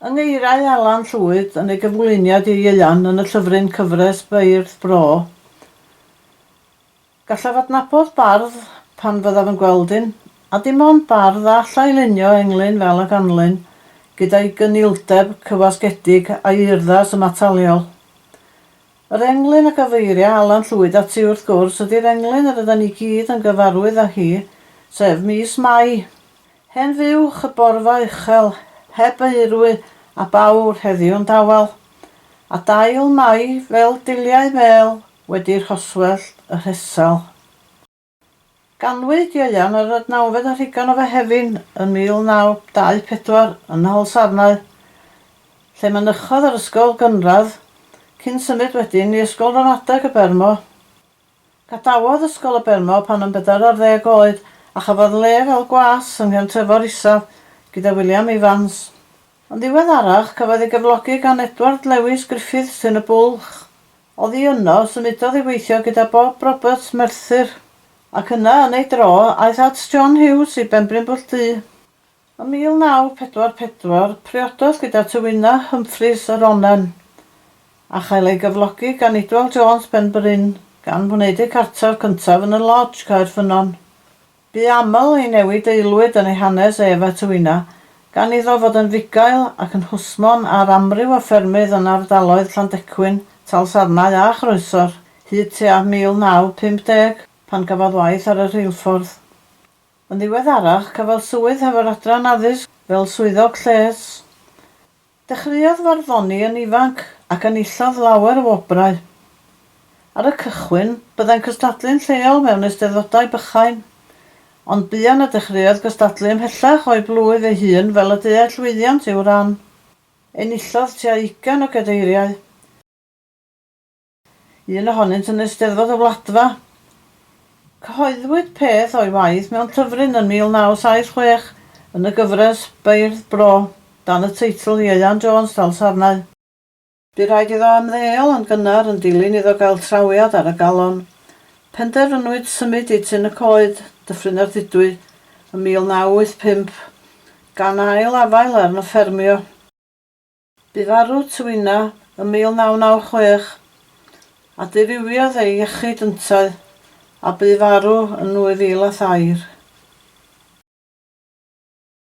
Yng ngeiriau Alan Llwyd yn ei gyflwyniad i'r ieuan yn y llyfryn Cyfres Beirdd Bro, Gallaf adnabod bardd pan fyddaf yn gweld un, a dim ond bardd a allai lunio englyn fel y ganlyn, gyda'i gynildeb cywasgedig a'i urddas ymataliol. Yr englyn a gyfeiria Alan Llwyd ati wrth gwrs ydi'r englyn yr ydan ni gyd yn gyfarwydd â hi, sef mis Mai. Hen fuwch y borfa uchel, heb eirwy a bawr heddiw'n dawel. A dail Mai fel diliau mêl wedi rhoswellt y rhesel. Ganwyd Ieuan yr adnawfed ar Rhugan o Fehefin yn 1924 yn Nholsarnau, lle mynychodd yr ysgol gynradd, cyn symud wedyn i Ysgol Ramadeg y Bermo. Gadawodd Ysgol y Bermo pan yn bedair ar ddeg oed a chafodd le fel gwas yng Nghefn Trefor Isaf gyda William Evans. Yn ddiweddarach cafodd ei gyflogi gan Edward Lewis Griffiths yn y Bwlch, Oddi yno, symudodd i weithio gyda Bob Roberts, Merthyr, ac yna, yn ei dro, aeth at John Hughes i Benbrinbwll Du. Ym 1944, priododd gyda Tywynna Humphreys yr Onnen, a chael ei gyflogi gan Idwal Jones Penbryn, gan wneud eu cartref cyntaf yn y Lodge, Caerffynnon. Bu aml i newid aelwyd yn ei hanes ef a Tywina, gan iddo fod yn fugail ac yn hwsmon ar amryw o ffermydd yn ardaloedd Llandecwyn, Talsarnau a Chroesor, hyd tua 1950, pan gafodd waith ar y rheilffordd. Yn ddiweddarach, cafodd swydd hefo'r Adran Addysg fel Swyddog Lles. Dechreuodd farddoni yn ifanc ac enillodd lawer o wobrau. Ar y cychwyn, byddai'n cystadlu'n lleol mewn eisteddfodau bychain, ond buan y dechreuodd gystadlu ymhellach o'i blwyf ei hun fel y deuai llwyddiant i'w ran. Enillodd tua ugain o gadeiriau. un ohonynt yn Eisteddfod y Wladfa. Cyhoeddwyd peth o'i waith mewn llyfryn yn 1976 yn y gyfres Beirdd Bro, dan y teitl Ieuan Jones Dalsarnau. Bu rhaid iddo ymddeol yn gynnar yn dilyn iddo gael trawiad ar y galon. Penderfynwyd symud i Tŷ-ny Coed, Dyffryn Ardudwy, yn 1985, gan ail afael arno ffermio. Bu farw Twina ym 1996, a dirywiodd ei iechyd yntau, a bu farw yn 2003.